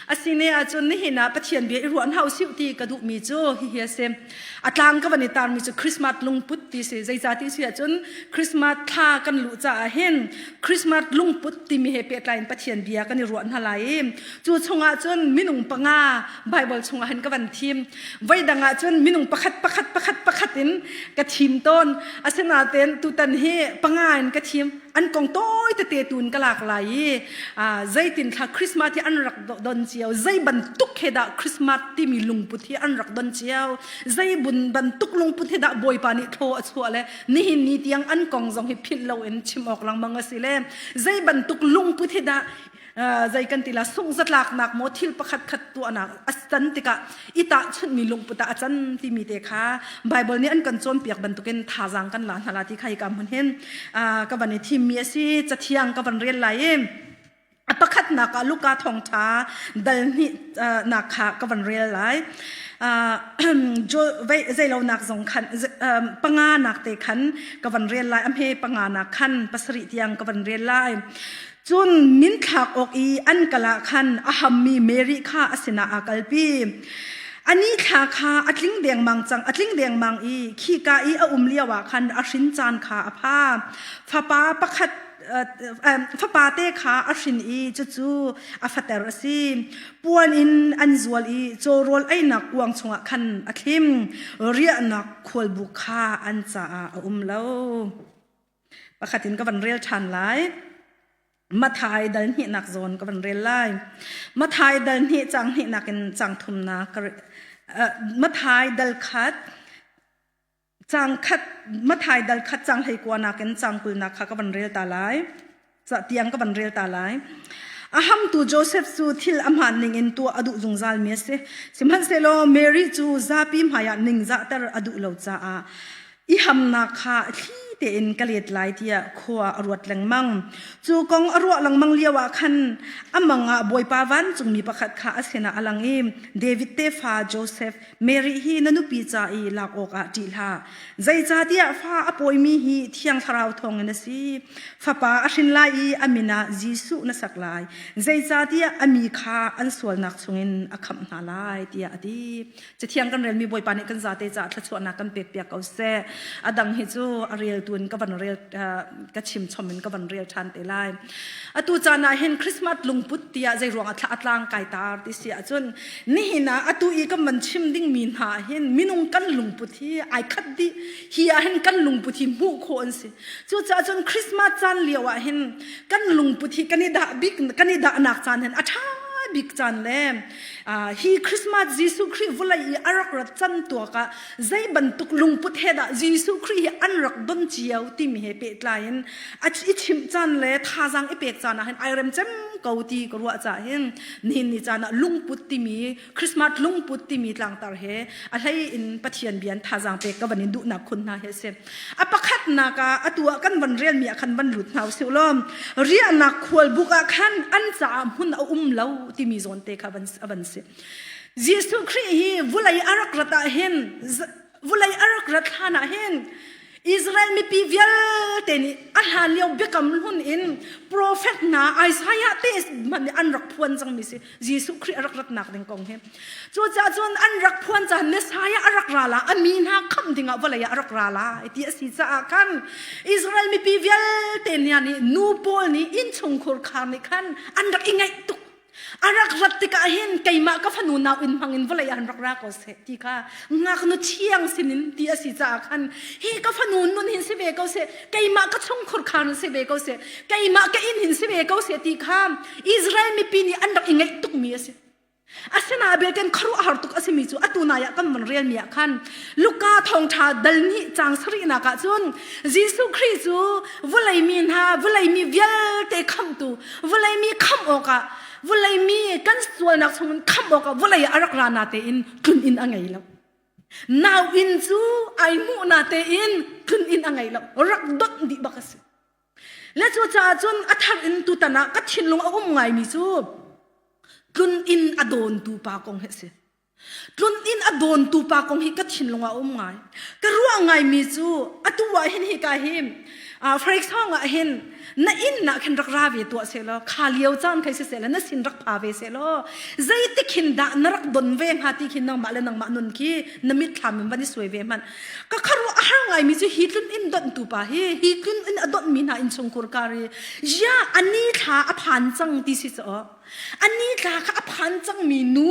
Asi ne ahcun nihin ah Pathian bia i ruah hna usih ti ka duhmi cu hihi a si. A tlang ka van i tarmi cu Christmas lungput ti si. Zeicah ti si ahcun Christmas thla kan luh caah hin Christmas lungput timi he pehtlaiin Pathian bia kan i ruah hna lai i cu chungah cun minung panga Bible chungah hin ka van thim. Voidang ahcun minung pakhat pakhat pakhat pakhat in ka thim tawn. Asinain tutan hi panga in ka thim. an kong tawi tete tun ka lak lai i zeitin thla christmas hi an rak don cio zei bantuk he dah christmas timi lungput hi an rak don cio zei bun bantuk lungput he dah bawipa nih tho a chuah le nihin ni tiang an kong zong hi philh lo in chim awk langmang a si le zei bantuk lungput hi dah zei kan ti la sung zatlaknak maw thil pakhat khat tuahnak a tan tikah i tahchunmi lungput ah a can timi te kha Bible nih an kan cawnpiak bantukin thazaang kan la hna la ti kha hika hmun hin ka van i thimmi a si cathiang ka van rel lai i a pakhatnak ah Luka thawngtha dal hnih nak kha ka van rel lai zeilonak zong khan panga nak te khan ka van rel lai amhe panga nak khan pasarih tiang ka van rel lai Cun min thlak awk i an kal ah khan a hammi Mary kha a sinah a kalpi. Ani thla kha a tling dengmang cang, a tling dengmang i khika i a um lioah khan a hrin caan kha a pha. Fapa pakhat fapate kha a hrin i cucu a fater a si. Puan in an zual i cawrawl einak kuang chungah khan a thlim. Riahnak khualbuk kha an caah a um lo. pakhat in ka van rel ṭhan lai mathai dal hnihnak zawn ka van rel lai mathai dal hnih cang hnihnak in cang thumnak ka mathai dal khat cang khat mathai dal khat cang hlei kuanak in cang kulnak kha ka van rel ta lai Cah tiang ka ban rel ta lai. A hamtu Joseph cu thil amah ning in tuah a duh zungzal mi a si. Sihmanhsehlaw Mary cu zapi hmaiah ningzahter a duh lo caah i hamnak kha thli tein ka let lai tiah khua a ruat lengmang. Cu kong a ruah lengmang lio ah khan amang ah Bawipa vancungmi pakhat kha a sinah a lang i David tefa Joseph Mary hi na nupi ca i lak awkah ṭih hlah. Zeicahtiah fa a pawimi hi thiang thlarau thawngin a si. Fapa a hrin lai i a min ah Jesuh na sak lai. Zeicahtiah a mi kha an sualnak chungin a khamh hna lai tiah a ti. Cathiang kan relmi Bawipa nih kan zate caah thluachuahnak kan pekpiak ko seh. A dang hi cu a reltu in ka van rel ka chimchom in ka van rel ṭhan te lai. Atu caan ah hin Christmas lungput tiah zei ruangah thla a tlang kai tar ti si ahcun nihin ah atu i kan van chim dingmi hna hin minung kan lungput hi ai khat dih hi ah hin kan lungput hi hmuh khawh an si cucaah cun christmas caan lio ah hin kan lungput hi kan i dah bik kan i dahnak caan hin a ṭha bik caan le hi christmas jesuh khrih vulei i a rak rat can tuak ah zei bantuk lungput he dah Jesuh Khrih hi an rak don cio timi he pehtlai in a i chimh caan le thazang i pek caan ah hin ai rem cem ko ti ka ruah ca hin nihin ni caan ah lungput timi Christmas lungput timi tlangtar he a hlei in Pathian bian thazang pek ka van in duhnak khun hna he si a pakhatnak ah atu ah kan van rel mi ah khan van lut hna u siu lom riahnak khual buk ah khan an caah hmun a um lo timi zawn te kha van van si Jesuh Khrih hi vulei a rak rat ah hin vulei a rak rat hlan ah hin Israel mipi vialte nih a hlan lio biakam hlun in profet hna Isaiah te hmanh nih an rak phuan cangmi si Jesuh Khrih a rak ratnak ding kong hi cucaah cun an rak phuan caan Messiah a rak ra la a mi hna kham dingah vawlei ah a rak ra la ti a si caah khan Israel mipi vialte hna nih nu pawl nih inn chungkhur khar nih khan an rak i ngaih tuk A rak rat tikah hin keimah ka fanu nauinn hmangin vawlei ah rak ra ko seh ti kha ngaknu thiang sinin ti a si caah khan hi ka fanu nun hin si ve ko seh keimah ka chungkhur khan si ve ko seh keimah ka inn hin si ve ko seh ti kha Israel mipi nih an rak i ngaih tukmi a si asina beken khuaruahhar tuk a simi cu atu nai ah kan van relmi ah khan Luka thawngṭha dal hnih cang sarihnak ah cun Jesuh Khrih cu vulei mi hna vulei mi vialte khamhtu vulei mi khamh awkah vulei mi kan sualnak chungin khamh awkah vulei a rak ra na tein tlun in a ngei lo. Nau inn cu ai hmuh na tein tlun in a ngei lo. Rak dot dih bak a si. Le cu caah cun a thar in tutan ah ka thinlung a um ngaimi cu tlun in a dawntu pa kong hi a si. Tlun inn a dawntu pa kong hi ka thinlung ah a um ngai. Ka ruah ngaimi cu atu ah hin hi ka him. Uh, for example ah hin na inn nak hin rak ra ve tuah se law kha lio caan khai si se la na sin rak pha ve se law zeitik hin dah na rak don ve hnga ti khin nangmah le nangmah nun khi na mit thlam in van i sui ve hmanh ka kharuah a har ngaimi cu hi tlun inn donhtu pa hi hi tlun inn a donhmi hna inn chungkur kari ya ani thla a phan cang ti si caw a ni tla kha a phan cangmi nu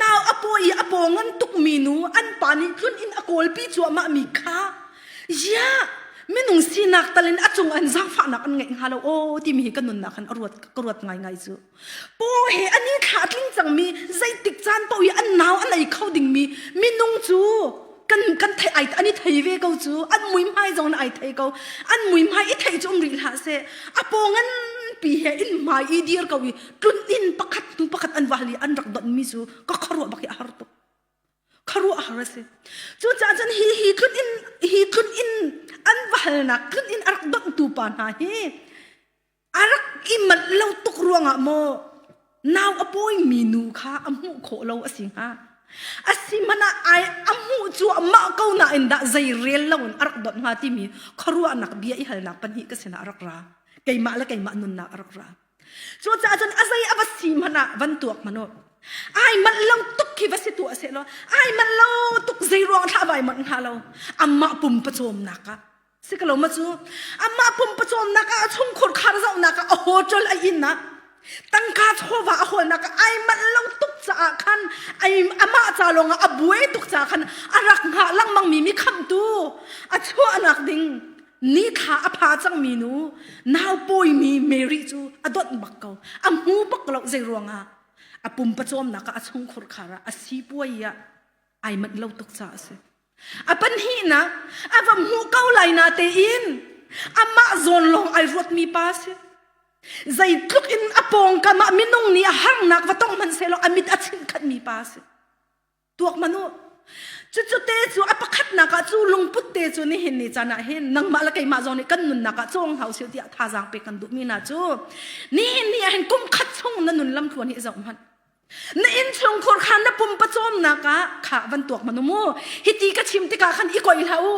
nau a paw i a paw ngan tukmi nu an pa nih tlun in a kawlpi cuahmah mi kha ya minung sinak tal in a cung an zangfahnak an ngeih hnga lo aw timi hi ka nunnak khan a ruat ka ruat ngaingai cu paw he a ni thla a tling cangmi zeitik caan paoh i an nau a nei kho dingmi minung cu kan kan thei ai an i thei ve ko cu an mui hmai zong ai thei ko an mui hmai i thei cu um rih hlah se a pongan pi he in hmai i dir ko i tlun in pakhat hnu pakhat an wahli an rak don mi cu ka kharuah bak hi a har tuk kharuah a har asi cu ca cun hi hi tlun in hi tlun in an wahalnak tlun in a rak dontu pa hna hi a rak i manh lo tuk ruangah maw nau a pawimi nu kha a hmuh khawh lo a si hnga a si hmanh ah ai a hmuh cu amah ko nain dah zei rel lo in a rak dot hnga timi khuaruahnak bia i halnak pahnih ka sinah a rak ra keimah le keimah nunnak a rak ra cucaah cun a zei a va si hmanh ah van tuak hmanh u ai manh lo tuk khi va si tuah seh law ai manh lo tuk zei ruang thlah vai manh hnga lo amah pum pacawmnak ah Si ka lo ma cu amah pumpacawnnak ah a chungkhur khar zohnak ah a hotel a innak tangka chawva a holnak ai manh lo tuk caah khan ai amah ca lawng ah a bue tuk caah khan a rak hngah lengmang mi mi khamtu a chuahnak ding ni thla a pha cang mi nu nau pawi mi Mary cu a dot bak ko a mu bak lo zei ruangah a pumpacawmnak ah a chungkhur khar ah a sipuai ah ai manh lo tuk caah a si a panhnihnak a va hmuh ko lai na tein amah zawn lawng ai ruatmi pa si zeitluk in a pawngkam ah minung nih a harnak va tong hmanhsehlaw a mit a chinkhatmi pa si tuak manu cucu te cu a pakhatnak ah cu lungput te cu nihin ni can ah hin nangmah le keimah zawn nih kan nunnak ah cawng hau sil tiah thazaang pe kan duhmi na cu nihin ni ah hin kum khat chung na nun lam thluan hi zoh hmanh Na innchungkhur khan na pum pacawmnak ah kha van tuak manu mu hiti ka chim tikah khan i koi hlah u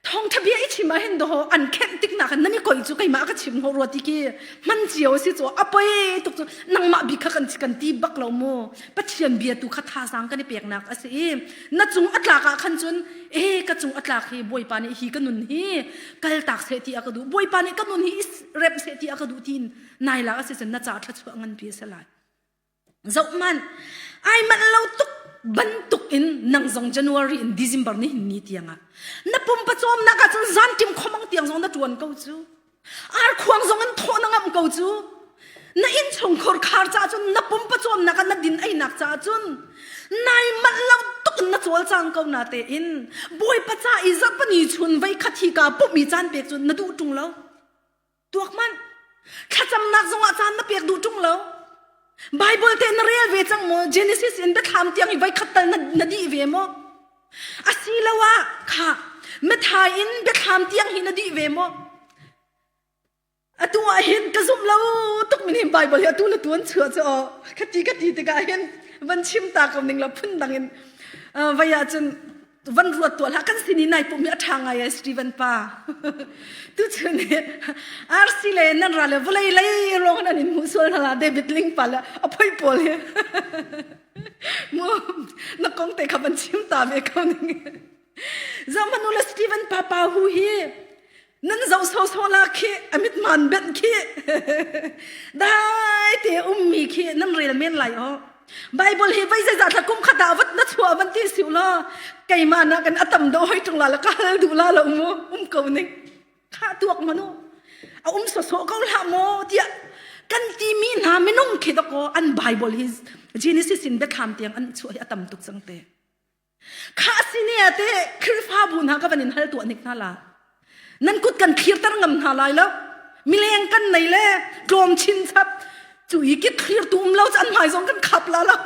thongtha bia i chim ah hin do an khenh tik na khan nan i koi cu keimah ka chim ho ruati ki man cio si chu apoi tuk chu nangmah bik kha kan kan ti bak lo mu pathian bia tu kha tha sang kan i pek nak asi i na cung atlak ah khan cun e ka cung atlak hi boipa ni hi ka nun hi kal tak se ti aka du boipa ni ka nun hi rep se ti aka du tin nai la a si cun na ca thluachuah nganpi a si lai zoh man ai mal lo tuk bantuk in nang zong january in december ni ni tiangah na pum pacawm nak ahcun zan tim khomang tiang zong na tuan ko cu ar khuang zong in thaw na ngam ko cu na in chung khor khar ca cun na pum pacawm nak na din ai nak ca cun nai mal lo tuk na chol chang ko na te in boy pacha i zapani chun vei khathi ka pu mi chan pek cun na du tung lo tuak manh thlacamnak zongah caan na pek duh ṭung lo Bible te na rel ve cang maw Genesis in biathlam tiang i voi khat tal na, na di ve maw asiloah kha methai in biathlam tiang hi na di ve maw atu ah hin ka zumh lo tuk min hin Bible hi atu le tu an chua chu aw khati khati tikah hin van chim ta kam ning la phun dang in vai ah cun van ruat tuah la kan sin i nai pum hi a ṭha ngai ai Steven pa tu chu ni RC le nan ra le vawlei lei rong nan in hmuh sual hna David Ling pa le a phoi pawl hi mu na kong te kha ban chim ta me ko ning zong manu le Steven pa pa hu hi nan zoh sawsawh la khi a mitman benh khi dai te ummi khi nan rel men lai ho bible hi vai zai zatla kum khata vat na chua van ti siu la keima na kan atam do hoi tung la la kal du la la umu um ko ning kha tuak manu a um so so ko la mo tia kan ti mi na minung khi dako an bible hi genesis in bethlam tiang an chu hi atam tuk sang te Kha sini ah te Khrihfabu hna ka van in hal tuah nik hna la. Nan kut kan thlirter ngam hna lai lo. Mileng kan nei le tlawm chin chap cu i kit thlir tu um lo chan mai zong kan khap la lo.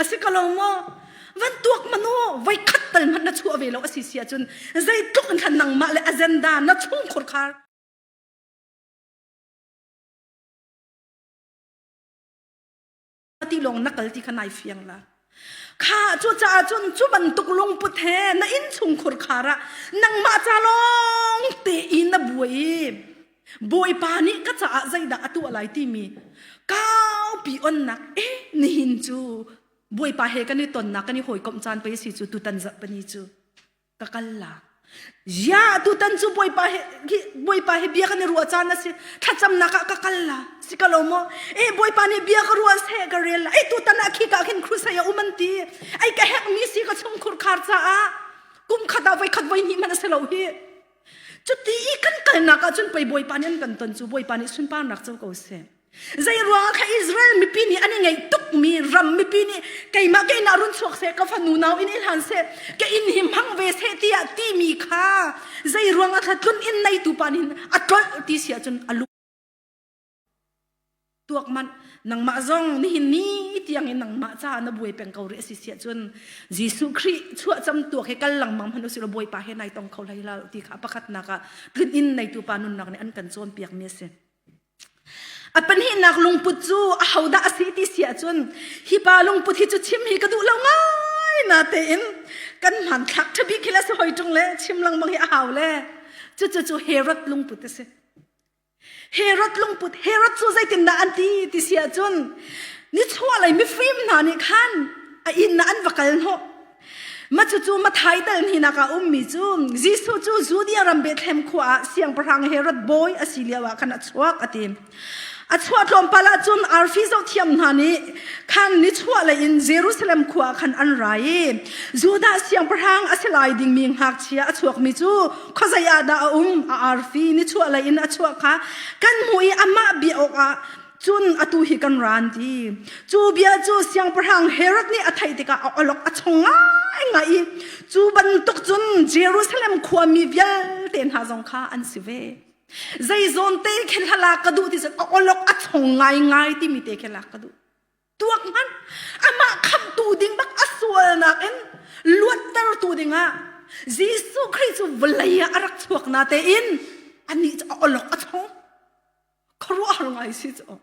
Asi ka lo mo. Van tuak manu voi khat tal man na chua ve lo asi sia chun zei tluk in khan nang ma le agenda na chung khur khar ti lawng na kal ti kha nai fiang la kha cu caah cun cu bantuk lungput he na inn chungkhur khara nangmah ca lawng te in na buai bawipa nih ka caah zeidah a tuah lai timi kaupi onnak e nihin cu bawipa he kan i tonnak kan i hawikomh caan pei si cu tutan zarh pani cu ka kal la ya tutan cu bawipa he bawipa he bia kan i ruah caan a si thlacamnak ah ka kal la si ka lo maw e bawipa nih bia ka ruah se ka rel la e tutan ah khi ka khin crusade a um an ti ai ka hek mi si ka chung khurkhar caah kum khat ah voi khat voi hnih man a si lo hi cuti i kan kalnak ah cun pei bawipa nih an kan ton cu bawipa nih sunparnak co ko seh Zeiruang ah ka Israel mipi nih an i ngei tukmi ram mipi nih keimah ke in ah run chuak seh ka fanu nau in i hlan seh ka inn hi hmang ve seh tiah timi kha zeiruang ah thla tlun in neitu pa nih a tlolh ti si ahcun a lu tuak manh nangmah zong nihin ni tiang in nangmah ca na buai peng ko ri a si si ahcun Jesuh Khrih chuah cam tuak hi kal lengmang hmanh usih Bawipa he nai tong kho hlai hlah ti kha a pakhatnak ah tlun in neitu pa nunnak nih an kan cawnpiakmi a si. A pahnihnak lungput cu ahodah a si ti si ahcun hi pa lungput hi cu chim hi ka duh lo ngai na tein kan hmanthlak ṭhabik hi le si hoi ṭung le chim lengmang hi a hau le cucu cu Herod lungput a si. Herod lungput Herod cu zeitindah an ti ti si ahcun nichuah lei mifim hna nih khan a inn ah an va kal hnawh Macucu mathaidal ni naka ummi cu Jesuh cu Judea ram Bethlehem khua ah siangpahrang Herod bawi asi lio ah khan a chuak ati. A chuah tlawmpal ah cun arfi zohthiam hna nih khan ni chuah lei in Jerusalem khua khan an ra i Judah siangpahrang a si lai dingmi ngakchia a chuakmi cu khuazei ah dah a um a arfi ni chuah lei in a chuah kha kan hmuh i amah bia awkah cun atu hi kan ra an ti cu bia cu siangpahrang Herod nih a theih tikah alok a chong ngai ngai i cu bantuk cun Jerusalem khua mi vialte hna zong kha an si ve zei zawn te khe hlala ka duh ti cun a olok a chong ngai ngai timi te khe lak ka duh tuak hmanh amah khamtu ding bak a sualnak in luattertu dingah Jesuh Khrih cu vawlei ah a rak chuak na tein anih cu a olok a tho khuaruahhar ngai si cu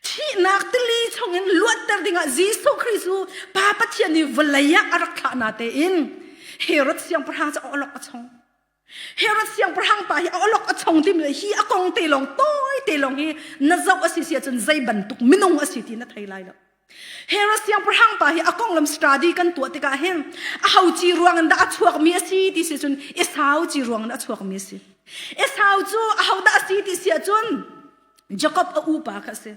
thihnak tili chungin luatter dingah Jesuh Khrih cu Pa Pathian nih vawlei ah a rak thlah na tein Herod siangpahrang cu a olok a chong Herod siangpahrang pa hi a olok a chong dim le hi a kong te lawng tawi te lawng hi na zoh a si si ahcun zei bantuk minung a si ti na thei lai lo. Herod siangpahrang pa hi a konglam study kan tuah tikah hin a ho ci ruang in dah a chuak mi a si ti si cun i sau ci ruang in a chuak mi a si. I sau cu a ho dah a si ti si ahcun Jacob a upa kha a si.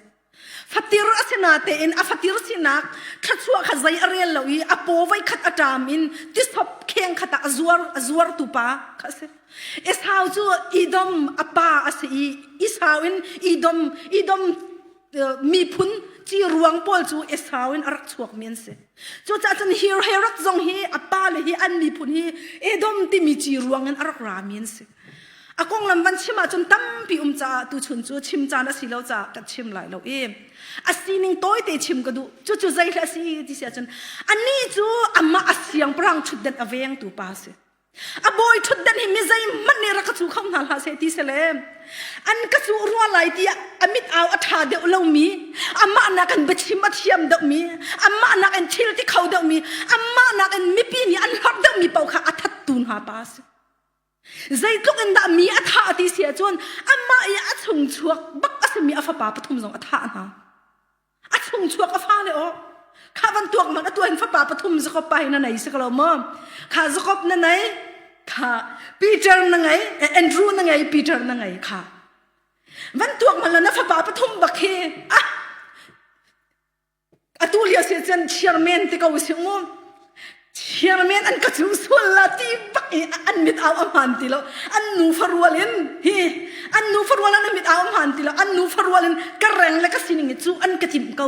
fatir a si natein a fatir sinak thluachuah kha zei a rel lo i a paw voi khat a ṭam in tisop kheng khat ah a zuar a zuartu pa kha a si Esau cu Idom a pa a si i Esau in Idom Idom miphun ci ruang pawl cu Esau in a rak chuakmi an si cucaah cun Hirherod zong hi a pa le hi an miphun hi Edom timi ci ruang in a rak rami an si A konglam van chim ahcun tampi um caah tu chun cu chim caan a si lo caah ka chim lai lo i a sining tawite chim ka duh cucu zei hle a si ti si ahcun ani cu amah a siang parang ṭhutdenh a vengtu pa a si a bawi ṭhutdenh hi mi zeihmanh nih rak ka cu kho hna hlah seh ti se le an ka cu rua lai tiah a mit au a ṭha deuh lomi amah nakin biachim a thiam deuhmi amah nakin thil ti kho deuhmi amah nakin mipi nih an hlorh deuhmi paoh kha a thattu hna pa a si Zeitluk in dah mi a thah ti si ahcun anmah i a chungchuak bak a simi a fapa pathum zong a thah hna. A chungchuak a fale aw. Kha bantuak man a tuan fapa pathum Jacob pa hi na nei si ko lo maw? Kha Jacob na nei, kha Peter na ngei, Andrew na ngei, Peter na ngei kha. Van tuak man na fapa pathum bak hi ah atu lio si cun chairman te ko si mu chairman an ka chu sual la ti bak i an mit au a hman ti lo an nu farual in hi an nu farual an mit au a hman ti lo an nu farual in ka reng le ka sining i cu an ka tim ko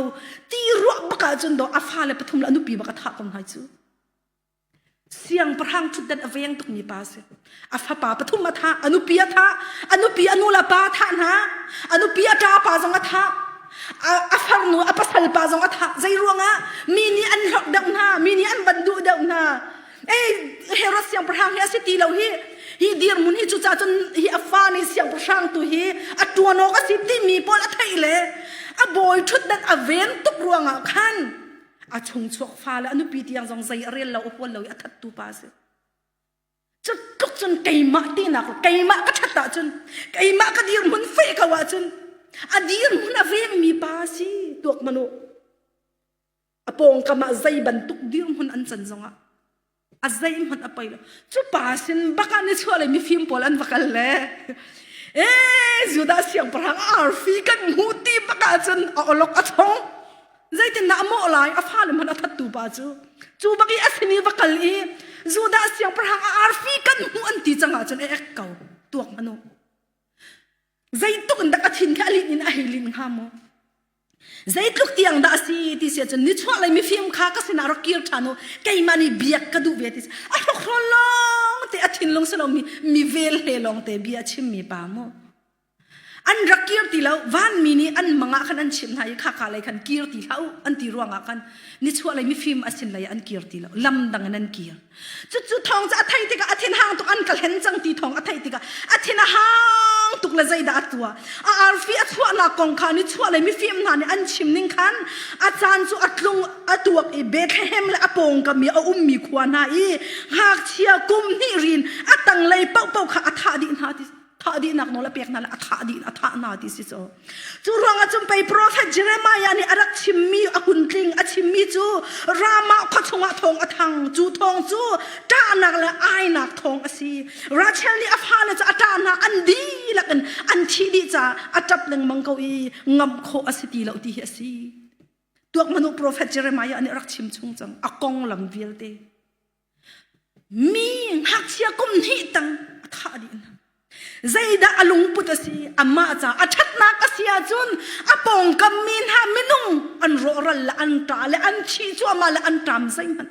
ti ruah baka cun do a fa le pathum le anu pi baka tha kom hai cu Siangpahrang thutdan a veng tukmi pa a si. A fapa pathum a thah, a nupi a thah, a nupi a nu le pa a thah hna, a nupi a ṭa pa zong a thah, a farnu a pasal pa zong a thah. Zei ruangah? Mi nih an hlorh deuh hna, mi nih an van duh deuh hna. Ei, Herod siangpahrang hi a si ti lo hi. Hi dirmun hi cucaah cun hi a fa nih siangpahrang tu hi a ṭuan awk a si timi pawl a theih le a bawi ṭhutdan a veng tuk ruangah khan a chungchuak fale a nupi tiang zong zei a rel lo a hual lo i a thattu pa a si cu tluk cun keimah tinak keimah ka that ahcun keimah ka dirhmun fe ko ahcun a dirhmun a vengmi pa si tuak manu a pawngkam ah zei bantuk dirhmun an can zongah a zeihmanh a pei lo cu pa sin bak ah ni chuah le mifim pawl an va kal le e judas siangpahrang arfi kan hmu ti bak ah cun a olok a chong zeitin dah a mawh lai a fale hmanh a thattu pa cu cu bak i a simi va kal i judas siangpahrang a arfi kan hmu an ti cang ah cun e ek ko tuak hmanu zeituk in dak a thin khi a lin in a hei lin hnga maw Zeitluk tiang dah a si ti si ahcun nichuah lei mifim kha ka sinah rak kir ṭhan u keimah nih biak ka duh ve ti si a hrukhrawn lawng te a thinlung si lomi mi vel he lawng te bia a chimmi pa mu an rak kir ti lo vanmi nih an mangah khan an chimh hna i khaka lei khan kir ti hlah u an ti ruangah khan nichuah lei mifim a sin lei an kir ti lo lam dang in an kir Cucu thawng cu a theih tikah a thin hang tuk an ka hlen cang ti thawng a theih tikah a thin a hang tuk le zeidah a tuah a arfi a chuahnak kong khan i chuah le mifim hna nih an chim ning khan a caan cu a tlung a tuak i Bethlehem le a pawngkam i a ummi khua hna i ngakchia kum hnih rin a tanglei paohpaoh kha a thah dih hna ti thah dihnak nawl a pek hna le a thah dih a thah hna ti si cu cu ruangah cun pei profet Jeremiah nih a rak chimmi a hun tling a chimmi cu ramah khua chungah thawng a thang cu thawng cu ṭahnak le ainak thawng a si Rachel nih a fale cu a ṭahnak an dihlak in an thih dih caah a ṭap lengmang ko i ngam khawh a si ti lo ti hi a si tuak manu profet Jeremiah nih a rak chim chung cang a konglam vialte Mi ngakchia kum hnih tang a thah dih hna. Zeidah a lungput a si? Amah ca a ṭhatnak a si ahcun a pawngkam mi hna minung an rawhral le an ṭa le an chi cuahmah le an ṭam zeihmanh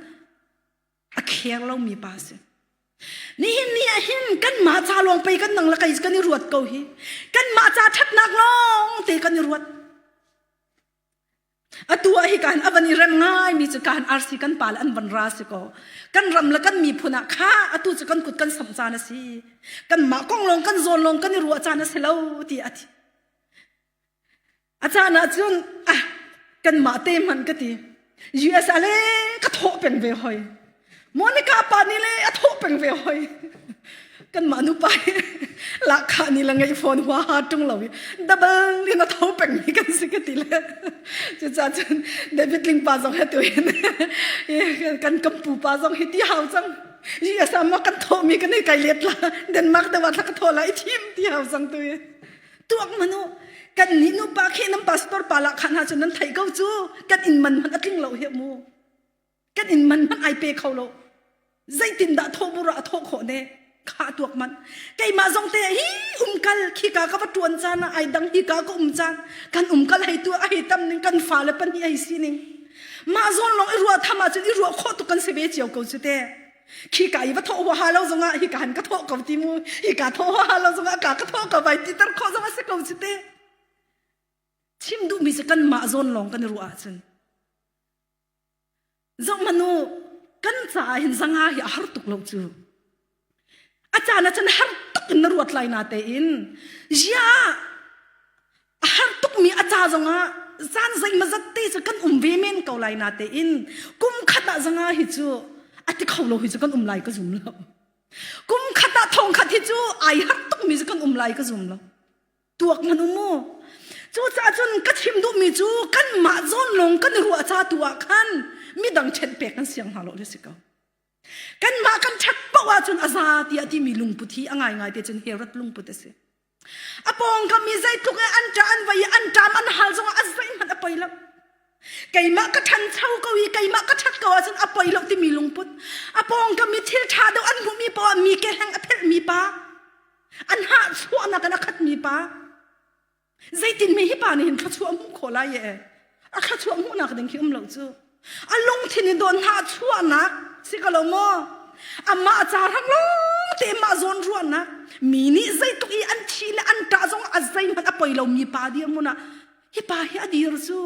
a kheng lomi pa a si. Nihin ni ah hin kanmah ca lawng pei kan nang le kei kan i ruat ko hi. Kanmah ca ṭhatnak lawng te kan i ruat. Atu ah hi kan a van i rem ngaimi cu kan arsi kan pa le an van ra si ko. Kan ram le kan miphun ah kha atu cu kan kut kan samh caan a si. Kan mah kong lawng kan zawn lawng kan i ruah caan a si lo ti a ti. A caan ah cun ah kan mah te hman ka ti. US a le ka thawh peng ve hoi. Monica pa ni le a tho peng ve hoi kan mah nu pa hi lakha ni la ngei phone hua ha tung lo i double in a tho peng mi kan si ka ti le cu cha cun David Ling pa zong he tu hin kan kampu pa zong hi ti hau cang yi asam kan tho mi kan kai let la Denmark da wa thla tho la i thim ti hau cang tu i tuak manu kan ni nu pa khi nam pastor pa la khana chun nan thai ko chu kan in man man atling lo he mu kan in man hmanh ai pe kho lo zeitindah thawhbur ah a thawh khawh ne kha tuak man keimah zong te hi umkal khika ka va tuan caan ah ai dang hika ka um caan kan umkal hei tu ai tam ning kan fa le pan hi ai si ning mah zon long i rua thama cun i rua kho tu kan se ve chiao ko chu te khi ka i va tho wa ha lo zongah hi ka han ka tho ko ti mu hi ka tho wa ha lo zongah ka ka tho ka vai ti tar kho zongah se ko chu te chim du mi se kan ma zon long kan rua cun Zong manu kan caah hin zanga hi a har tuk lo cu. A caan ah cun har tuk in na ruat lai na tein ya a har tukmi a ca zongah zan zeima zat te cu kan um ve men ko lai na tein kum khat ah zanga hi cu a ti kho lo hi cu kan um lai ka zum lo. Kum khat ah thong khat hi cu ai har tukmi cu kan um lai ka zum lo. tuak nan um mu cucaah cun ka chim duhmi cu kanmah zawn lawng kan i ruah ca tu ah khan midang ṭhenh pek kan siang hna lo hi si ko kanmah kan ṭhat poh ah cun a za tiah timi lungput hi a ngaingai te cun herat lungput a si a pawng kam i zeitluk i an ṭa an vai an ṭam an hal zong a zeihmanh a poi lo keimah ka ṭhancho ko i keimah ka ṭhat ko ahcun a poi lo timi lungput a pawng kam i thil ṭha deuh an hmuhmi pa mi keheng a phelhmi pa an hahchuahnak in a khatmi pa zeitin mi hi pa nih hin thluachuah hmuh khawh lai ee a thluachuah hmuhnak ding khi um lo cu a lungthin i don hahchuahnak si ko lo maw amah ca rang lawng te mah zawn ruahnak mi nih zeitluk i an thi le an ṭah zong a zeihmanh a poi lomi pa dir mun ah hi pa hi a dir cu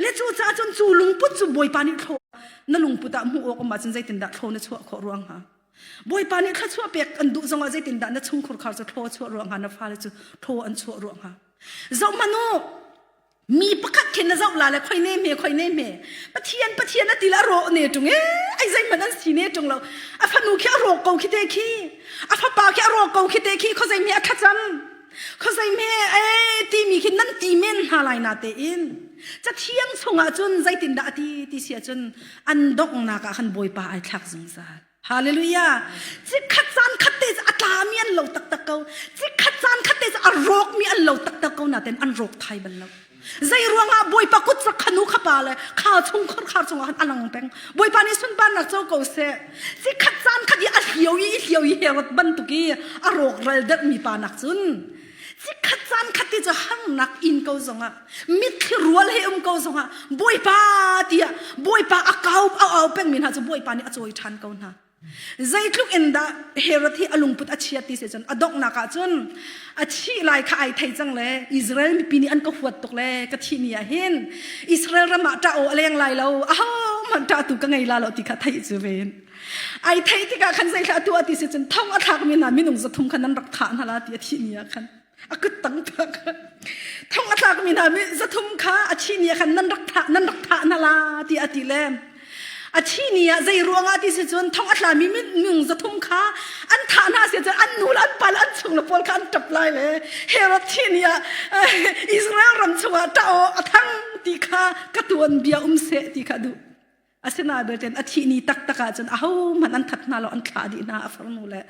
le cu ca cun cu lungput cu bawipa nih thlo na lungput ah hmuh awk um ahcun zeitin dah thlo na chuah khawh ruang hnga Bawipa nih thluachuah pek an duh zongah zeitindah na chungkhur khar cu thlaw chuah ruang hnga na fale cu thlaw an chuah ruang hnga zoh manu mi pakhat khin na zoh la le khoi ne me khoi ne me pathian pathian a til a ro ne tung e ai zai man an si ne tung lo a fanu khi a ro ko khi te khi a fapa khi a ro ko khi te khi kho zai mi a thlacam khosei me e timi khi nan ti men hna lai na tein cathiang chungah cun zeitindah ati ti sia cun an donghnak ah khan bawipa ai thlak zungzal hallelujah chikhat caan khat te atla mi an lo taktak ko chikhat caan khat te a rawk mi an lo taktak ko na ten an rawk thai bal lo Zei ruangah Bawipa kut sa khanu kha pa le khar chung khor khar chung ah alang peng. Bawipa nih sunparnak co ko seh. Si khat caan khat i a hliau i hliau i herot bantuk i a rawk ral der mi pa nak cun si khat caan khat ti cu hang nak in ko zong ah mitthli rual he um ko zong ah Bawipa tiah Bawipa a kau a au peng mi hna cu Bawipa nih a cawi ṭhan ko hna. Zeitluk in dah Herod hi a lungput a chia ti se cun a donghnak ah cun a thih lai kha ai thei cang le Israel mipi nih an ka huat tuk le ka thih ni ah hin Israel ram ah ṭah aw a leng lai lo a hohmanh ṭahtu ka ngei la lo ti kha theih cu ve in ai theih tikah khan zeithlah a tuah ti se cun thong a thlakmi hna minung zathum kha nan rak thah hna la ti a thih ni ah khan a kut tang thak thong a tlak mi hna mi zathum kha a chi ni khan nan rak tha nan rak tha na la ti a ti le a chi ni ah zei ruanga ti si cun thong a tla mi ngung zathum kha an thah hna se cun an nu le an pa le an chung le pawl kha an tap lai le herod chi ni ah Israel ram chungah ta a thang ti kha ka tuan bia um se ti kha duh Asinain belte a thih ni taktak ahcun ahohmanh an that hna lo an thlah dih hna a farnu le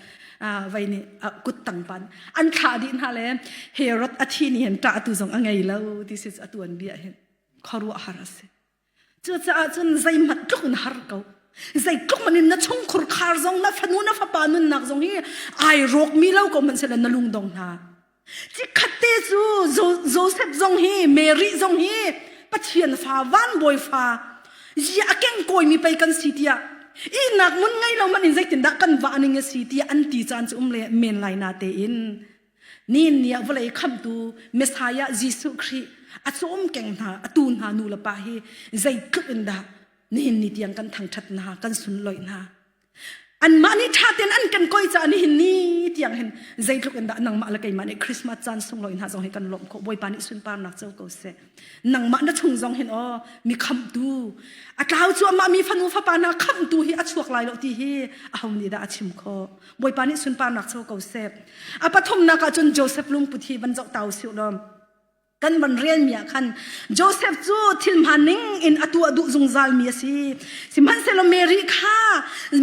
vei nih kut tangpan an thlah dih hna le Herod a thi ni hin ṭah tu zong a ngei lo this is a tuan bia hin khuaruah har a si cucaah cun zeihmanh tluk in har ko zei tluk manin na chungkhur khar zong na fanu na fapa nunnak zong hi ai rawkmi lo ko hmanhsehlaw na lungdong hna Cikhat te cu Joseph zong hi Mary zong hi Pathian fa van bawi fa ya a keng koimi pei kan si tiah ihnak mun ngei lo man in zeitindah kan va aning a si tiah an ti caan cu um le men lai na tein nin nia vawlei khamtu Messiah Jesuh Khrih a cawm keng hna a tu hna nu le pa hi zei tluk in dah nihin ni tiang kan thangthat hna kan sunloi hna Anmah nih ṭha tein an kan koi caah nihin ni tiang hin zeitluk in dah nangmah le keimah nih Christmas caan sunglawi hna zong hi kan lawmh khawh. Bawipa nih sunparnak co ko seh. Nangmah na chung zong hin aw mi khamtu a tlau cuahmah mi fanu fapa hna khamtu hi a chuak lai lo ti hi aho nih dah a chim khawh. Bawipa nih sunparnak co ko seh. A pathumnak ah cun Joseph lungput hi van zoh ta usih law kan van relmi ah khan Joseph cu thil hmaan ning in a tuah duh zungzalmi a si sihmanhsehlaw Mary kha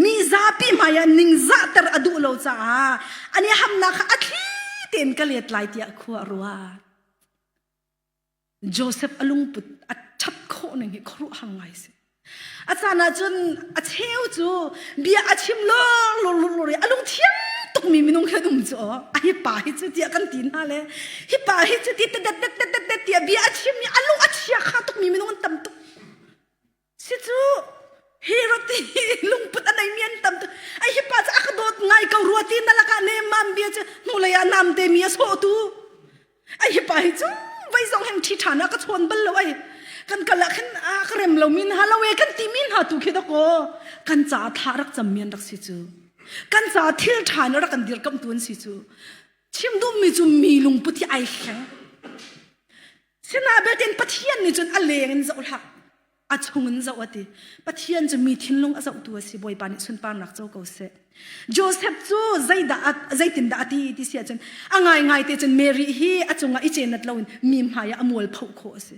mi zapi hmai ah ningzahter a duh lo caah an i hamnak kha a thli tein ka let lai tiah khua a ruat Joseph a lungput a ṭhat khawh ning hi khuaruahhar ngai a si A caan ahcun a cheu cu bia a chim lorlorlor i a lungthiang tukmi minung hi an um cu aw. A hi pa hi cu tiah kan ti hna le hi pa hi cu ti tet tet tet tet tet tiah bia a chim i a lung a chia kha tukmi minung an tam tuk. Si cu hi roti lungput a neimi an tam tuk. Ai hi pa cu a ka dawt ngai ko rua ti na lakah nemmam bia cu hnulei ah namte mi a sawhtu. ai hipa hi cu vai zong heng thi ṭhan ah ka chawn bal lo ai kan kal ah khin a ka rem lo mi hna lo e kan ti mi hna tu khi dako kan ca thla rak cam mian rak si cu kan ca thil ṭhan rak kan dir kam tu an si cu chim dum mi cu mi lung puti ai kheng sina betin pathian ni cun a leng in zoh hlak a chungin zoh a ti pathian cu mi thinlung a zohtu a si bawipa nih sunparnak co ko seh Joseph cu zeidah zeitindah a ti ti si ahcun a ngaingai te cun Mary hi a cungah i cenat loin mi hmaiah a mual phoh khawh a si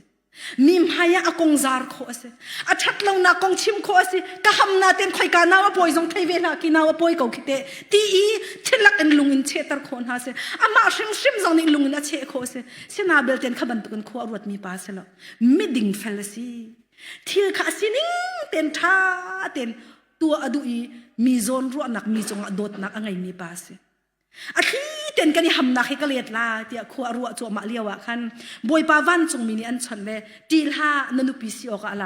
mi hmaiah a kong zar khawh a si a ṭhat lonak kong chim khawh a si ka hamna ten khoika nau a pawi zong thei ve hlah ki nau a pawi ko khi te ti i thilak in lungin cheter khawh hna si amah hrimhrim zong nih lungin a cheh khawh a si sina belte kha bantukin khua a ruat mi pa si lo miding fel a si thil kha a sining ten ṭha ten tua a duh i mi zawn ruahnak mi cungah dawtnak a ngeimi pa a si a thli ten kan i hamnak hi ka let la tiah khua a ruah cuahmah lio ah khan bawipa vancungmi nih an chawnh le ṭi hlah na nupi si awk ah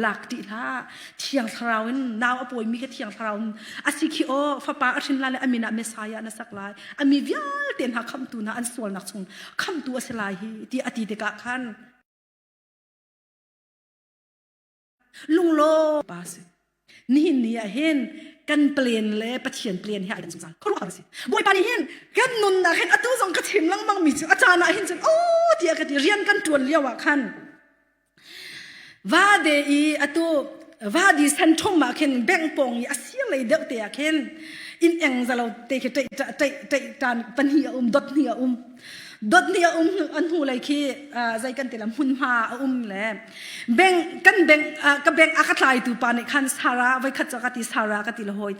lak ṭi hlah thiang thlarau in nau a pawimi kha thiang thlarau in a si khi aw fapa a hrin la le a min ah messiah na sak lai a mi vialte hna khamtu hna an sualnak chung khamtu a si lai hi ti a ti tikah khan lunglo pa si nihin ni ah hin kan plan le pathian plan hi ai dang cang kholo ka si bawipa nih hin kan nunnak hin atu zong ka chim lengmang mi cu a caan ah hin cun o tiah ka ti rian kan tuan lio ah khan Vade i atu vadi san thum ah khin bank pong i a sir lei deuh te ah khin in eng zalo te khi tei tei tei tan pani a um dot ni a um dot ni a um an hnu lei khi zai kan tila mun ma a um le bank kan bank ka bank a ka tlai tu pa nih khan sara vai khat cha ka ti sara ka ti la hoi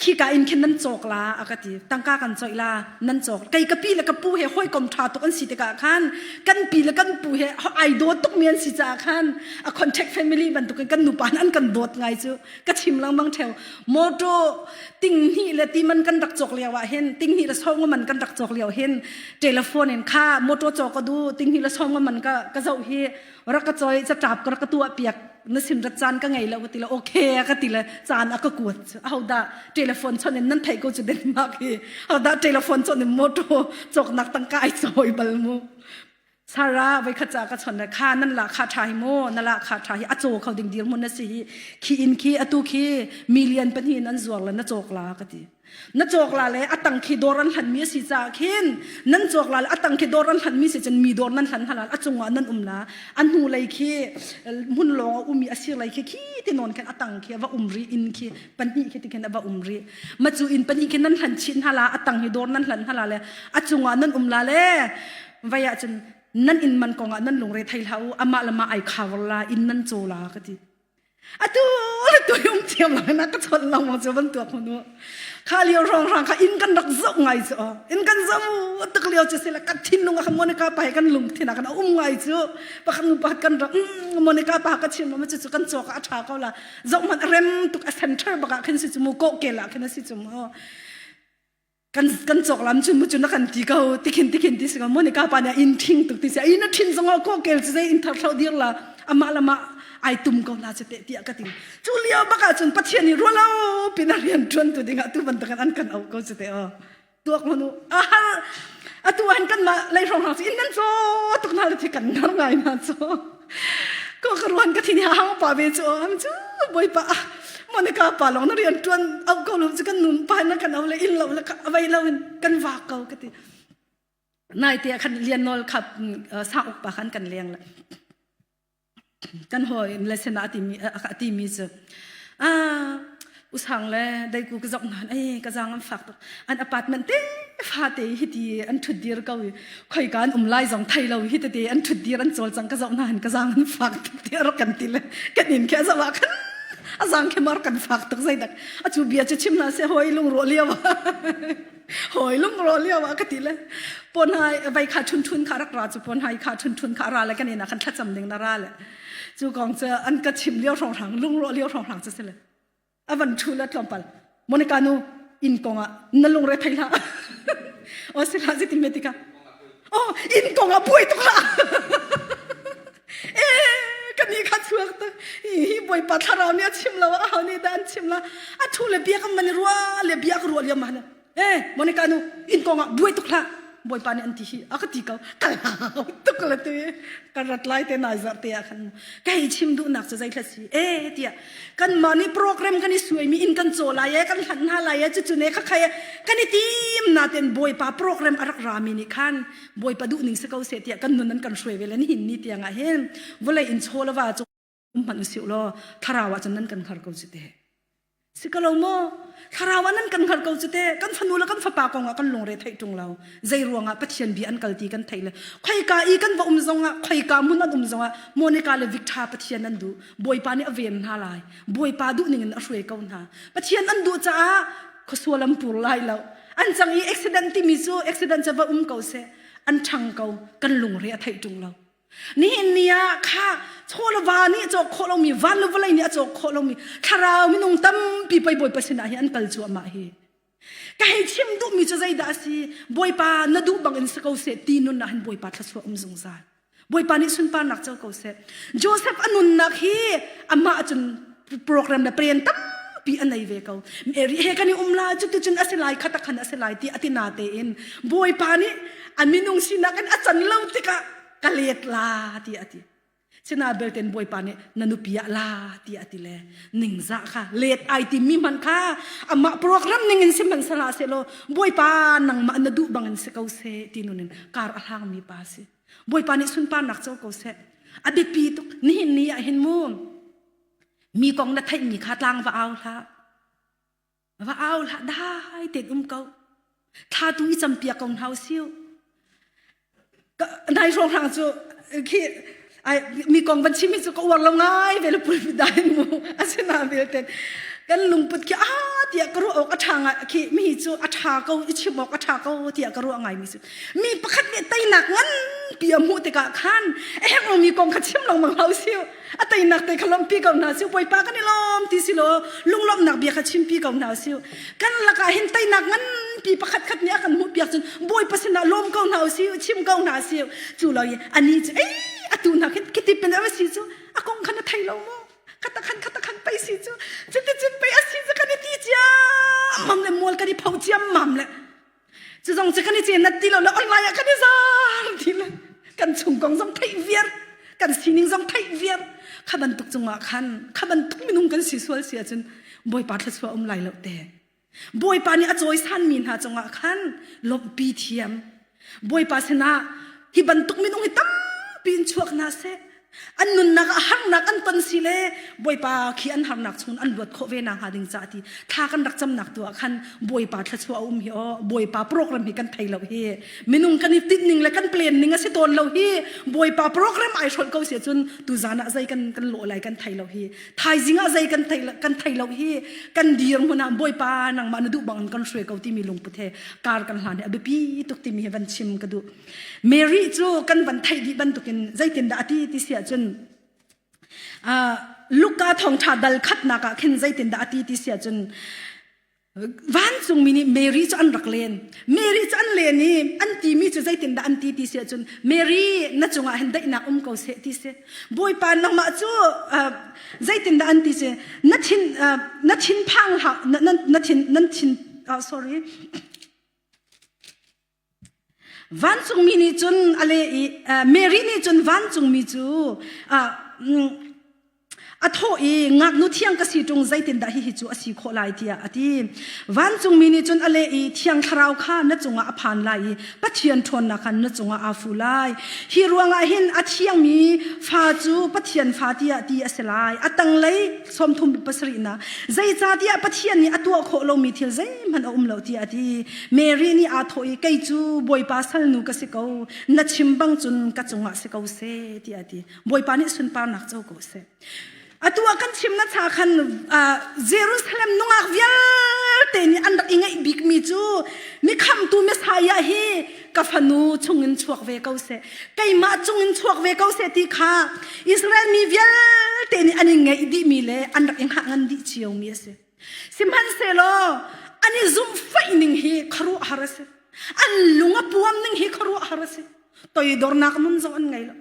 khika in khin nan cawk la a ka ti tangka kan coih la nan cawk kei ka pi le ka pu he hawikom ṭha tuk an si tikah khan kan pi le kan pu he ai dawt tuk mi an si caah khan a contact family bantukin kan nupa an kan dawt ngai cu ka chim langmang theo motor tinghni le timan kan rak cawk lio ah hin tinghni le songo man kan rak cawk lio hin telephone in kha motor caw ka du tinghni le songo man ka ka zoh hi rak ka choi ca ṭap ka rak ka tuahpiak na sin rat caan ka ngei lo ka ti lo okay ka ti le caan a ka kuat ho dah telephone chon in nan thei ko cu den mak hi ho dah telephone chon in motor choknak tangka ai soi bal mu sara voi kha cha ka chon le kha nan la kha tha hi mo na la kha tha hi a cho kho ding dir mun na si hi khi in khi atu khi million pani nan zuar la na chok la ka ti na cawkla le a tang khi dawr an hlanmi a si caah khin nan cawkla le a tang khi dawr an hlanmi si cun mi dawr nan hlan halal a cungah nan um la a hnu lei khi hmun lawng a um i a sir lei khi khi ti nawn khan a tang khi a va um ri in khi pahnih khi ti khan a va um ri ma cu in pahnih khi nan hlan chin hala a tang hi dawr nan hlan hala le a cungah nan um la le vai ah cun nan in man kongah nan lungre thei hlah u amah le ma ai khawar la in nan caw la ka ti atu tu yung thiam lo na ka chon lo mo chu ban tua khunu kha liu rong rang kha in kan rak zo ngai chu in kan zo tak liu chu sila ka thin nung kha monica pa kan lung thina kan um ngai chu pakhan nu pa kan rak monica pa ka chin ma chu chu kan cho ka a tha ko la zo man rem tuk a center baka khin si chu mu ko ke la khin si chu mo kan kan chok lam chu mu chu na kan ti ko tikhin tikhin ti singa mone ka pa ne in thing tuk ti se ai na thin zonga ko kel se in thar thau dir la ama lama ai tum ko na che te tia ka ting chu lia baka chun pathian ni rualo pina rian tuan tu dinga tu ban takan an kan au ko se te o tuak manu a atu an kan ma lei rong hang in nan so tuk na le thi kan nar ngai na so ko ka ruan ka thini hang pa ve chu am chu boipa monica pa long na rian tuan au ko lo chu kan num pa na kan au le in lo le ka avai lo in kan va ko ka ti nai te khan lian nol khap sa ok pa khan kan leng la kan hoi lesson ati mi ati mi chu ah usang le daiku ka zong nan ei ka zang an fak tuk an apartment te fate hi ti an thut dir ko khoi kan um lai zong thai lo hi te an thut dir an chol chang ka zong nan ka zang an fak tuk te ro kan ti le kan in ke zawa kan azang ke mar kan fak tuk zai dak achu bia che chim na se hoi lung ro liawa hoi lung ro liawa ka ti le pon hai vai kha thun thun kha rak ra chu pon hai kha thun thun kha ra le kan ina kan thlacham ding na ra le chu kong che an ka chim liao rong rang lung ro liao rong rang che se le avan thu la tlawmpal monica nu inn kong ah na lungre thei hlah o si hlah ziti metika oh inn kong ah buai tuk hlah eh kan ni kha chuak ta hi boipa thlarau nih a chim lo a hau ni da an chim la a thu le biak am man rua le biak rual yam hana eh monica nu in kong ah buai tuk hlah bawipa nih an ti hi a ka ti ko kal hau tuk la tu ka rat lai te nai zar te ah khan kai chim duh nak cu zai thla si e tia kan ma ni program kan i suai mi in kan cho lai e kan hlan ha lai e chu chu ne ka khai kan i tim na ten bawipa program arak rami ni khan bawipa du ning se ko se tia kan nun an kan shuai velen hin ni tianga hen volai in cholawa chu um hmanh si law thlarau ah cun nan kan hngar ko ci te si ka lo mo thlarau ah nan kan hngar ko ci te kan fanu le kan fapa kong ah kan lungre thei tung lo zei ruangah pathian bi an kalti kan thei le khoi ka i kan va um zong ah khoi ka mun an um zong ah monica le victor pathian an du bawipa nih a ven hna lai bawipa duh ning in a hruai ko hna pathian an duh caah khosua lampur lai lo an chang i accident timi cu accident cha va um ko se an thang ko kan lungre a thei tung lo Nihin ni ah kha chawlava nih cawk khawh lomi van le vawlei nih a cawk khawh lomi thlarau minung tampi pei Bawipa sinah hi an kal cu amah hi ka hei chim duhmi cu zeidah a si Bawipa na duh bangin si ko seh ti nun ah hin Bawipa thluachuah um zungzal Bawipa nih sunparnak co ko seh Joseph a nunnak hi amah cun program le plan tampi an nei ve ko eri he kan i um la cu tucun a si lai khata khan a si lai ti atina tein bawipa nih a minung sinak in a can lo tikah ka let la ti ati sina belten bawipa nih na nupi ah la ti ati le ningza kha let ai ti mi man kha ama program ning in sim man sala se lo bawipa nangma na du bangin se ko se ti nunin kar a hlang mi pa si bawipa nih sunpa nak cho ko se adit pi tuk ni hin ni ah hin mu mi kong na theihmi kha tlang va au hlah va au hlah dai ten um ko thla tu i campia kong hau siu nai hrawng hrang cu khi ai mi kong van chimi cu ka uar lo ngai ve le pul dai mu asina vilte kan lungput ki a tia ka ru ok a thanga khi mi cu a tha ko i chimok a tha ko tia ka ru ngai mi cu mi pakhat le tainak ngan pi mu te ka khan eheng lo mi kong kha chim lo mang hau siu a teinak te kha lawmpi ko hna sih bawipa kan i lawm ti si law lunglawmhnak bia kha chimpi ko hna sih kan lakah hin teinak nganpi pakhat khat nih a kan hmuh piak cun bawipa sinah lawm ko hna u sih chim ko hna sih cu lo i ani cu ei atu hna khi kitipin a si cu a kong khan a thei lo maw khata khan khata khan pei si cu cuti cun pei a si cu kan i ti ciam mam le mual kan i pho ciam mam le cu zong cu kan i cenat ti lo le oi lai ah kan i zaang ti le kan chung kong zong theih viar kan sining zong theih viar kha bantuk cungah khan kha bantuk minung kan si sual si ahcun bawipa thlasua um lai lo te bawipa nih a cawisan mi hna cungah khan lawmhpi thiam bawipa sinah hi bantuk minung hi tampi in chuak hna seh an nunnak ah harnak an ton si le bawipa khi an harnak chungin an luat khawh ve na hnga ding ca ti thla kan rak camnak tu ah khan bawipa thlachuah a um hi o bawipa program hi kan thei lo hi minung kan i tinh ning le kan plan ning a si tawn lo hi bawipa program ai hrol ko se cun tu zan ah zei kan kan lo lai kan thei lo hi thaizing ah zei kan thei kan thei lo hi kan dir mun ah bawipa nangmah na duh bang kan shwe ko ti mi lungput he kar kan hlan he a biapi tuk ti mi he van chim ka duh Mary cu kan van theih dih bantukin zeitindah a ti ti si ahcun uh, Luka thongtha dal khatnak ah khin zeitindah a ti ti si ahcun vancungmi nih Mary cu an rak len Mary cu an len i an timi cu zeitindah an ti ti si ahcun Mary na cungah hin daihnak um ko seh ti si bawipa nangmah cu uh, zeitindah an ti si na thin uh, na thin phang hlah na, na, na thin nan thin uh, sorry Vancungmi nih cun a leh i Mary nih cun vancungmi cu a thawh i ngaknu thiang ka si ṭung zeitindah hihi cu a si khawh lai tiah a ti. Vancungmi nih cun a leh i Thiang Thlarau kha na cungah a phan lai i Pathian ṭhawnnak khan na cungah aa fu lai. Hi ruangah hin a thiangmi fa cu Pathian fa tiah ti a si lai. A tanglei sawmthum pasarihnak zeicahtiah pathian nih a tuah khawh lomi thil zeihmanh a um lo tiah a ti mary nih aa thawh i kei cu bawipa salnu ka si ko na chim bang cun ka cungah si ko se tiah a ti bawipa nih sunparnak co ko seh a tuah kan chimna cha khan jerusalem nungak vialte nih an rak i ngaih bikmi cu mi khamtu messiah hi ka fanu chungin chuak ve ko seh keimah chungin chuak ve ko seh ti kha Israel mi vialte nih an i ngeih dihmi le an rak i hngah ngan dih cio mi a si sihmanhsehlaw an i zumhfaih ning hi kharuah har a si an lung a puam ning hi kharuah har a si toidornak nun zong an ngei lo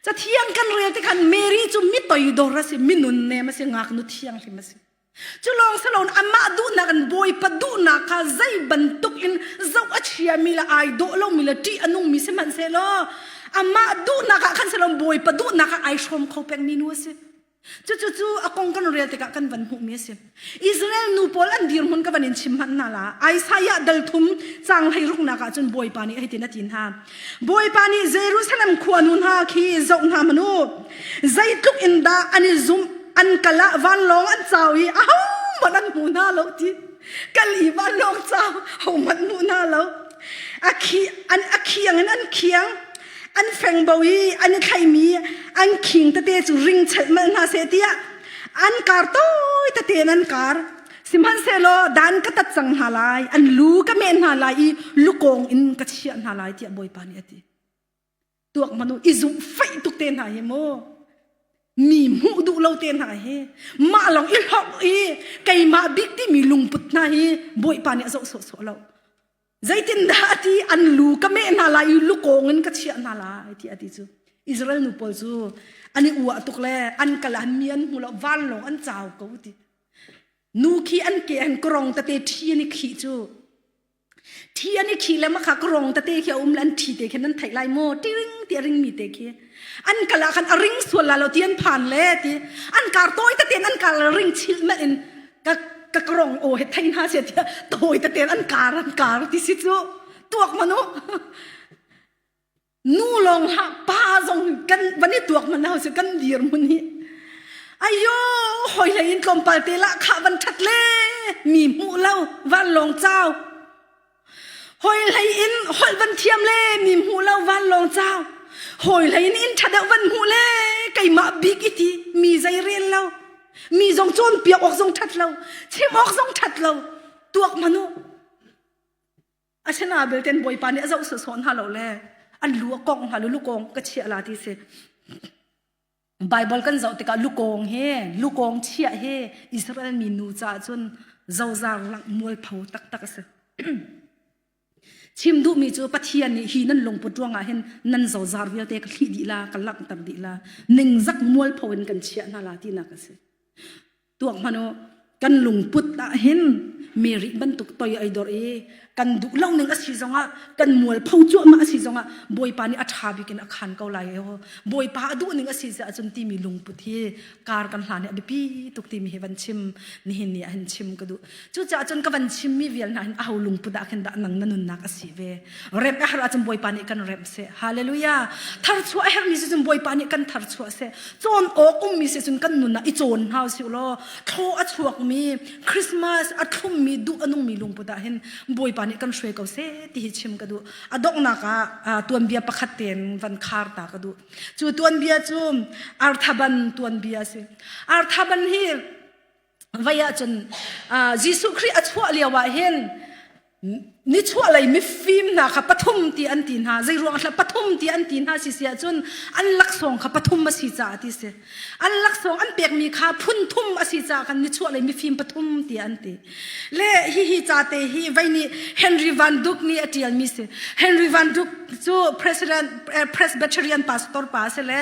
ca thiang kan rel tikhan Mary cu mi toidor a si mi nun nem a si ngaknu thiang hlim a si Cu lawng si loin amah duhnak in Bawipa duhnak kha zei bantuk in zoh a chiami le ai dawh lomi le ṭih a nungmi sihmanhsehlaw amah duhnak ah khan si loin Bawipa duhnak ah ai hrawm kho pengmi nu a si. Cucu cu a kong kan rel tikah kan van hmuhmi a si. Israel nu pawl an dirhmun ka van in chim hmanh hna la. Isaiah dal thum caang hlei ruknak ah cun Bawipa nih hitin a ti hna. Bawipa nih Jerusalem khua nu hna khi zoh hna manu zeitluk in dah an i zumh an kal ah vanlawng an cau i ahohmanh an hmu hna lo ti kal i vanlawng cau hohmanh hmu hna lo a khi an a khiang in an khiang an fengbo i an i thlaimi an khing tete cu ring chelh mal hna seh tiah an kar tawi tate in an kar Sihmanhsehlaw dan ka tat cang hna lai, an lu ka meh hna lai i lukawng in ka chiah hna lai tiah Bawipa nih a ti. Tuak manu i zumh faih tuk te hna hi maw mi hmuh duh lo te hna hi mah long i hlok i keimah bik timi lungput hna hi Bawipa nih a zoh sawh sawh lo Zeitindah a ti an lu ka meh hna lai i lukawng in ka chiah hna lai ti a ti cu Israel nu pawl cu an i ua tuk le an kal an mi an hmu lo vanlawng an cau ko ti nu khi an ke an korong tate thi an i khi cu thi an i khi le makha korong tate khi a um le an thi te khin an theih lai maw tiring ti a ring mi te khi an kal ah khan a ring sual la lo ti an phan le ti an kar tawi te an kar la ring chil me in ka ka krong o he thai na se tia tawi te an kar an kar ti si chu tuak manu nu long ha pa zong kan bani tuak mana se kan dir mun hi ayo hoi le in tlom pal te la kha ban that le mi mu lo van long chau Hoi hlei in holh van thiam le mi hmu lo vanlawng cau. Hoi hlei in inn ṭha deuh van hmuh le keimah bik i ti mi zei rel lo. Mi zong cun piak awk zong ṭhat lo, chim awk zong ṭhat lo. Tuak ma nu. Asena belten bawipa nih a zoh sawn hna lo le an lu a kongh hna lu lu kong ka chia la ti si. Bible kan zoh tikah lukong he lukong chiah he Israel mi nu caah cun zozar mualpho taktak a si. chim duhmi cu pathian nih hi nan lungput ruangah hin nan zozar vialte ka thli dih la ka langh ter dih la ningzak mualpho in kan chiah hna la tinak a si tuak manu kan lungput ah hin meri bantuk toi ai dor i kan duh lo ning asi zongah kan mual pho cuah ma asi zongah bawipa nih a tha bikin a khan ko lai ho bawipa a duh ning asi se ahcun timi lungput hi kar kan hlan hi a biapi tuk timi hi van chim nihin ni ah hin chim ka duh Cucaah cun ka van chimmi vial hna hin aho lungput ah khin dah nang na nunnak a si ve? Remh a herh ahcun Bawipa nih kan remh seh. Hallelujah! Tharchuah a herhmi si cun Bawipa nih kan tharchuah seh. Cawn awk ummi si cun kan nun ah i cawn hna u sih law thlaw a chuakmi, Christmas a thlummi, duh a nungmi lungput ah hin Bawipa nih kan hruai ko seh ti hi chim ka duh. A donghnak ah tuanbia pakhat tein van khar ta ka duh. Cu tuanbia cu Arthaban tuanbia a si. Arthaban hi vai ahcun Jesuh Khrih a chuah lio ah hin nichuahlei mifim hna kha pathum ti an ti hna zei ruang hlah pathum ti an ti hna si si ahcun an laksawng kha pathum a si caah ti si an laksawng an pekmi kha phun thum a si caah khan nichuahlei mifim pathum ti an ti le hihi cate hi vai nih Henry Van Duke nih a ṭialmi si Henry Van Duke cu president eh, Presbyterian pastor pa a si le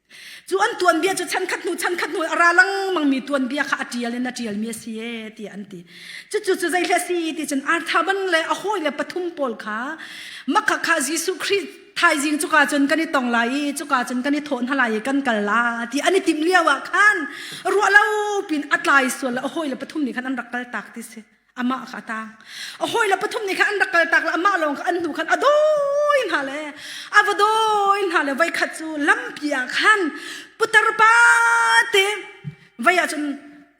Cu an tuanbia cu chan khat hnu chan khat hnu a ra lengmang mi tuanbia kha a tial in a tialmi a si e tiah an ti. Cucu cu zeihle si ti cun arthaban le a hawi le pathum pawl kha makha kha Jesuh Khrih thaizing cuka cun kan i tong lai i cuka cun kan i thawh hna lai i kan kal la ti an i tim lio ah khan ruahlo pin a tlai sual a hawi le pathum nih khan an rak kal tak ti si. amah kha a tang a hawile pathum nih khan an rak kal tak le amah lawng kha an hnu khan a dawi hna le a va dawi hna le voi khat cu lampi ah khan putar pa te vai ah cun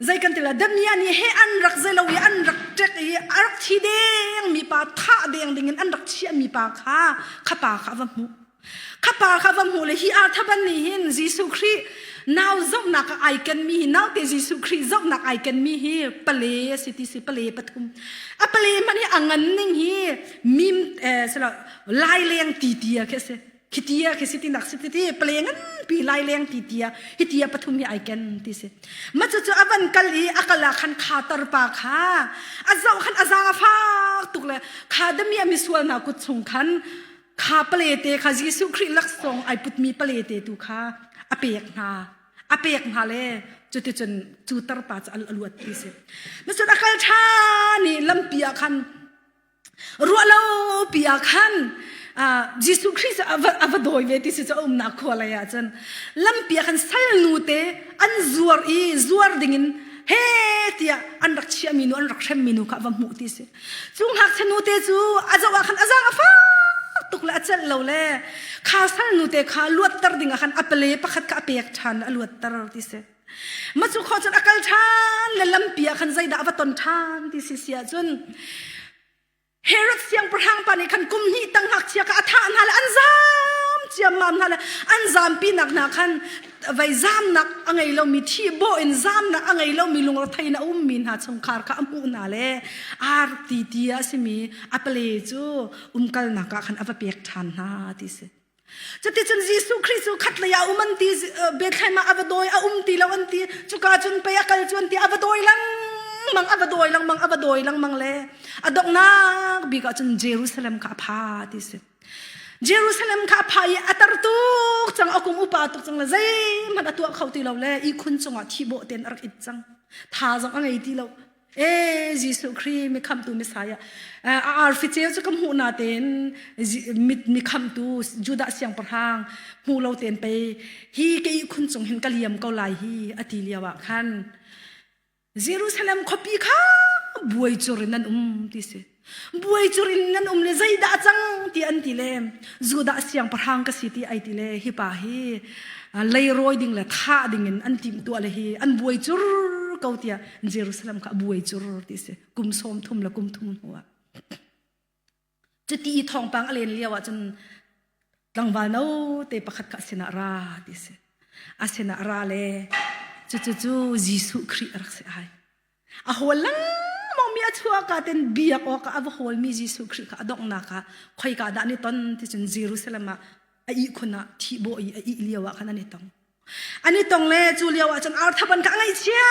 zei kan tila damia nih he an rak zelo i an rak tek i a rak thi deng mi pa thah deng ding in an rak chiah mi pa kha kha pa kha a va hmuh khapa kha va hmuh le hi arthaban nih hin Jesuh Khrih nau zohnak ai kenmi hi naute Jesuh Khrih zohnak ai kenmi hi pale a si ti si pale pathum a pale hmanh hi a ngan ning hi mim eh, selo laileng ti ti khi si hitia khi si tinak si ti pale ngan pi laileng ti tia hitia pathum hi ai ken ti si ma chu avan kal i akala khan khatar pa kha azo khan azanga fak tuk le kha damiya mi sual na kut chung khan kha palete kha Jesuh Khrih laksawng ai putmi palete tu kha a pek hna a pek hna le cuticun cu tarpa cu al aluat ti si nasat akal ṭha ni lampi ah khan ruahlo pi ah khan Jesuh Khrih cu a va dawi ve ti si cu a umnak khua lei ah cun lampi ah khan salnu te an zuar i zuar dingin he tiah an rak chiahmi nu an rak hremmi nu kha a va hmuh ti si Cu ngakchia te cu a zoh ah khan a zang a fak tuk le a celh lo le kha sal te kha luatter ding ah khan a pale pakhat kha a pek ṭhan a luatter ti si ma cu kho cun a kal ṭhan le lampi ah khan zeidah va ton ṭhan ti si sia cun Herod siangpahrang pa nih khan kum hnih tang ngakchia ka a thah hna le an zam ciammam hna le an zampinak hna khan vai zamnak a ngei lomi thi baw in zamnak a ngei lomi lungrethei na ummi hna chungkhar kha a hmuh hna le ar ti ti a simi a pale cu umkalnak ah khan a va pek ṭhan hna ti si cuticun Jesuh Khrist cu khat lei a um an ti Bethlehem ah a va dawi a um ti lo an ti cuka cun pei a kal cu an ti a va dawi lengmang a va dawi lengmang a va dawi lengmang le a donghnak bik ah cun Jerusalem kha a pha ti si Jerusalem kha a pha i a tar tuk cang a kum upa tuk cang le zeihmanh a tuah kho ti lo le i khun cungah thi bawh ten a rak it cang tha zong a ngei ti lo e Jesuh Khrih mi khamtu Messiah a arfi ceu cu ka hmuh na tein mit mi khamtu Judah siangpahrang hmu lo tein pei hi ke khun cung hin ka liam ko lai hi a ti lio ah khan Jerusalem khuapi kha buai cur in an um ti si. Buai cur in nan um le zeidah cang ti an ti le Judah siangpahrang ka si ti ai ti le hi pa hi leiroi ding le thah ding in an tim tua le hi an buai cur ko tiah Jerusalem kha buai cur ti si kum sawm thum le kum thum hnuah cuti i thawngpang a len lio ahcun tlangval no te pakhat kha sinah ra ti si a sinah ra le cucu cu Jesuh Khrih a rak si ai a hol lengmang mi a chuaka ten biak awk a va hol mi Jesuh Khrih kha a donghnak ah khoi ka dah ni ton ti cun Jerusalem ah a ih khun ah thihbaw i a ih lio ah khan an i tong an i tong le cu lio ah cun arthap an ka ngaihchia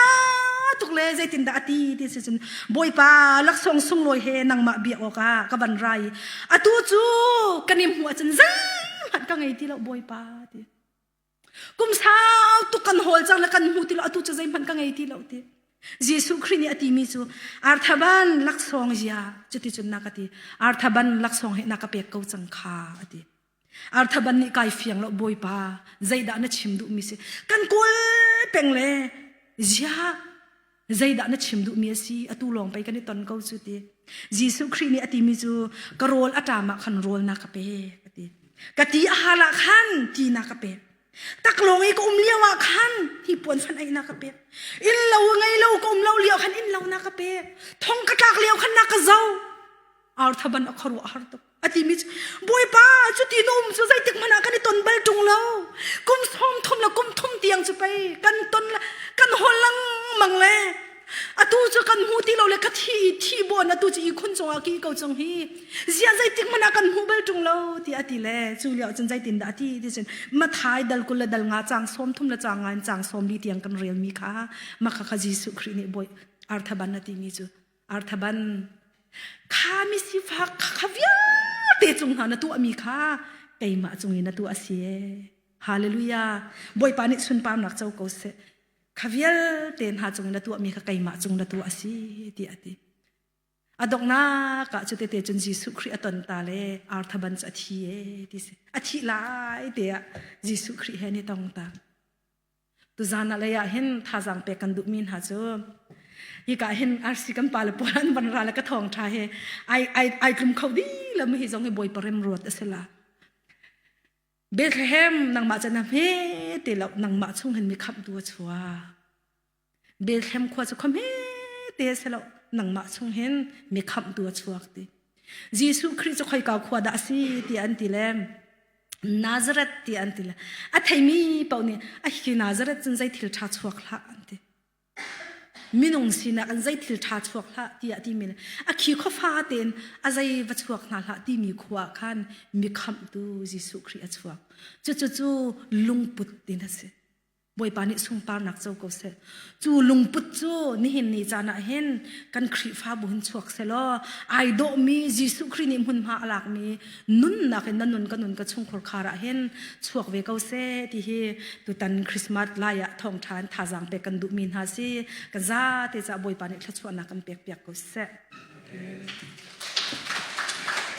tuk le zeitin dah a ti ti si cun bawipa laksawng sunglawi he nangmah biak awk ah ka ban ra i atu cu kan i hmuh ahcun zeihmanh ka ngei ti lo bawipa ti kum sau tuk kan hawl cang le kan hmu ti lo atu cu zeihmanh ka ngei ti lo ti Jesuh Khrih nih a ti mi cu arthaban laksawng zia cuti cun na ka ti arthaban laksawng he na ka pek ko cang kha a ti Arthaban nih kai fiang lo bawipa zeidah na chim duhmi si kan kawl peng le zia zeidah na chim duhmi a si atu lawng pei kan i ton ko cu ti Jesuh Khrih nih a timi cu ka rawl a ṭamah khan rawlnak ka pe ka ti ka ti a halah khan tinak ka pek taklawng i ka um lio ah khan hi puan fan einak ka pek in lo ngei lo ka um lo lio khan in lo na ka pek thong ka tlak lio khan na ka zo ar thaban a kharu a har tuk a timi cu bawipa cuti na um cu zeitik hmanh ah kan i ton bal ṭung lo kum sawm thum le kum thum tiang cu pei kan ton kan hol lengmang le atu cu kan hmu ti lo le ka thi thi bon atu cu i khun cungah ki ko cung hi zia zeitik hmanh ah kan hmu bal ṭung lo ti a ti le cu lio cun zeitin dah a ti ti cun mathai dal kul le dal nga chang sawm thum le chang ngan chang sawm li tiang kan relmi kha maka kha Jesuh Khrih nih bawi arthaban a timi cu arthaban khami sifa kha vialte cung hna na tuahmi kha keimah cung in na tuah asi hallelujah bawipa nih sunparnak co ko seh kha vialte hna cung in na tuahmi kha keimah cung na tuah asi ti ati adoknak ah cu tete cun Jesuh Khrih aton ta le arthaban cu athi e ti si athi lai te ah Jesuh Khrih he ni tong ta Tuzan ah lei ah hin thazang pek kan duhmi hna cu hika hin arsi kan pa le polan ban ra le ka thong tha he ai ai ai tlum kho di la mi hi zong hi boi parem ruat asila Bethlehem nang ma chana me te lo nang ma chung hin mi khap du chua Belthlem khua cu khom he te se lo nangmah chung hin mi kham tu a chuak ti Jesuh Khrist cu khoi ka khua da si ti an ti le Nazareth ti an ti le a theimi pau nih a hi Nazareth cun zei thil tha chuak hla an ti minung sinak an zei thil tha chuak hla tiah ti mi a khi khofa ten a zei va chuak hna hla ti mi khua khan mi kham tu Jesuh Khrist a chuak cu cu cu lungput din a si Bawipa nih sungparnak co ko seh. Cu lungput cu nihin ni caan ah hin kan Khrihfabu hin chuak selaw ai dawhmi Jesuh Khrih nih hmunhma a lakmi nunnak in na nun ka nun ka chungkhur khar ah hin chuak ve ko seh ti hi tutan Christmas lai ah thawngtha in thazaang pek kan duhmi hna si ka zate ca Bawipa nih thluachuahnak kan pek piak ko seh. Amen.